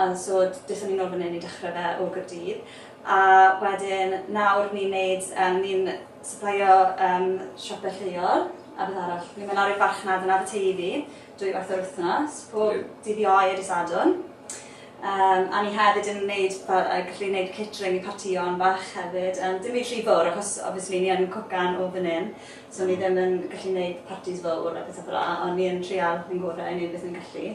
Yn so dethon ni nôl fan 'yn i dechre fe o Gaerdydd a wedyn nawr ni'n neud yym ni'n syplaio yym siope lleol a beth arall ni'n myn' lawr i'r farchnad yn Aberteifi dwy waith yr wythnos pob... Ie. ...dydd Iau a dy' Sadwrn yym a ni hefyd yn neud fel yy gallu neud catering i partïon bach hefyd yym dim byd rhy fowr achos obviously ni yn cwcan o fan 'yn so ni ddim yn gallu neud partis fowr a pethe fela on' ni yn trial ein gore i neud beth ni'n gallu.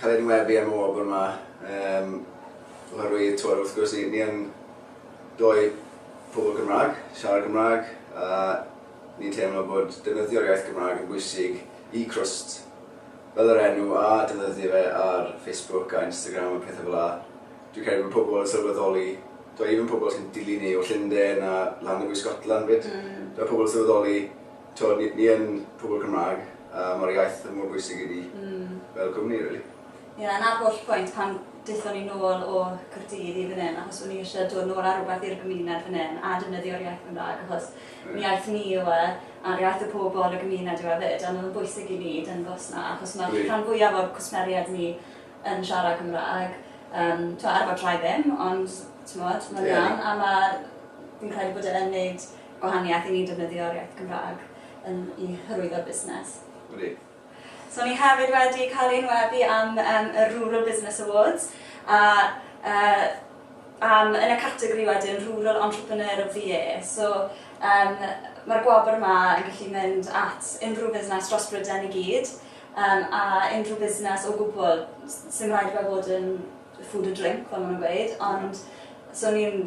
cael ein webu am y wobr 'ma yym oherwydd t'mod wrth gwrs ni ni yn dou pobl Cymraeg, siarad Cymraeg a ni'n teimlo bod defnyddio'r iaith Gymraeg yn bwysig i Crwst fel yr enw a defnyddio fe ar Facebook a Instagram a pethau fel 'a. Dwi'n credu bod pobl yn sylweddoli, t'mod even pobl sy'n dilyn ni o Llunden a Llanelwy Scotland 'fyd, fel pobl yn sylweddoli T'wod, ni, ni yn pobl Cymraeg, a ma'r iaith mor bwysig i ni fel cwmni, rili. Ie, a 'na'r holl pwynt pan daethon ni nôl o Caerdydd i fan 'yn, achos o'n ni isie dod nôl â rhywbeth i'r gymuned fan 'yn, a defnyddio'r iaith Gymraeg, achos yn iaith ni yw e, a'r iaith y pobl, y gymuned yw e 'fyd, a ma' fe'n bwysig i ni dangos 'na, achos ma'r rhan fwyaf o'r cwsmeriaid ni yn siarad Cymraeg, yym, t'mo', ar y fodraau ddim, ond, t'mod, ma'n iawn, a ma', fi'n credu bod e yn neud gwahaniaeth i ni defnyddio'r iaith Gymraeg yn i hyrwyddo'r busnes. Wych. So ni hefyd wedi cael ein weddi am um, y Rural Business Awards a uh, um, yn y categori wedyn Rural Entrepreneur of the Year. So um, mae'r gwobr yma yn gallu mynd at unrhyw fusnes dros Bryden i gyd um, a unrhyw fusnes o gwbl sy'n rhaid fe fod yn food a drink, fel maen nhw'n gweud, ond so ni'n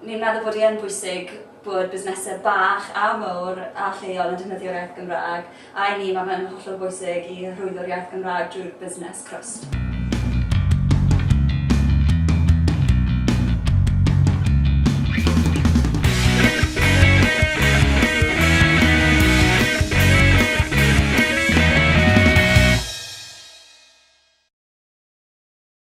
Ni'n meddwl bod hi yn bwysig bod busnesau bach a mawr a lleol yn defnyddio'r iaith Gymraeg, a i ni mae fe'n hollol bwysig i hyrwyddo'r iaith Gymraeg drwy'r busnes crwst.